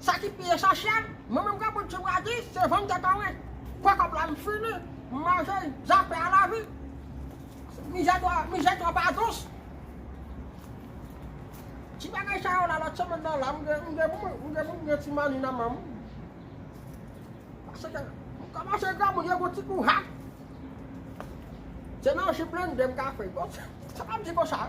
Sa ki pi esansyèl, mwen menm granmoun ti bradi, se vann tèt anwe. Pran kòb la m fini, m manje, zafè a lavi. Mizè twò, mizè twò pa dous. Ti bagay sa yo la lòt semèn nan la m gen, m gen pou mwen, m gen pou m gen ti mani nan men m. Paske m kòmanse granmoun yo gon ti kou hat. Se nan ji blende m ka fè. Bon, se pa m di konsa.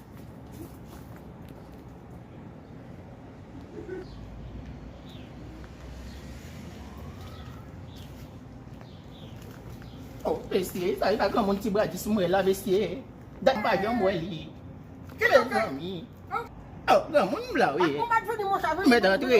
Oh bestie, sa e pa granmoun ti bradis m wè la bestie. Dat m pa janm wè li. Kile zanmi. Oh granmoun m la wi. Mèt antre.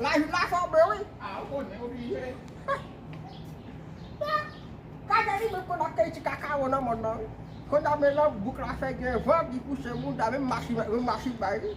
Lajou la fè w bè wi. A ou konnen ou blije. Kaka li menm konn akèy ti kakawo nan mòn nan wi. Konnya men jan bouk la fè gen van li pouse mouda menm machi menm machi bay wi.